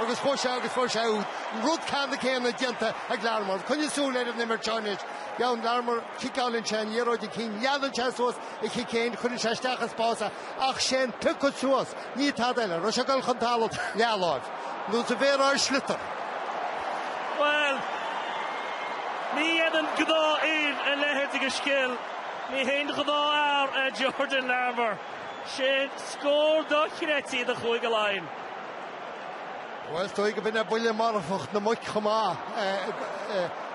agus fuair sé agus fuair sé úd. An rud ceannann céanna déanta ag Larmor. Coinnigh súil ar an imirt seo anois. Jordan Larmor, ciceálann sé an liathróid chun cinn. Leanann sé suas a chic féin, cuireann sé isteach i spás é ach sé'n piocadh suas. Ní tada eile. Agus é ag dul chun talamh leathláimh. Nós a bheadh ar sliotar. Bhuel, ní dhéanann gnáthdhaoine a leithéid de scil. Ní haon ghnáth fhear é Jordan Larmor. Sé'n scór dochreidte é do Chúige Laighean. Bhuel, is dóigh go mbeinn ar buille marfach na muice chomh maith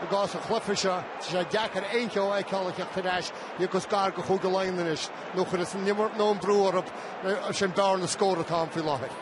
i gcás an chluiche seo. Tá sé deacair aon cheo a fheiceáil ag teacht ar ais ní cás gur ag Cúige Laighean anois nó cuireadh san an imirt nó an brú orthu sin bearna scór atá ann faoi láthair.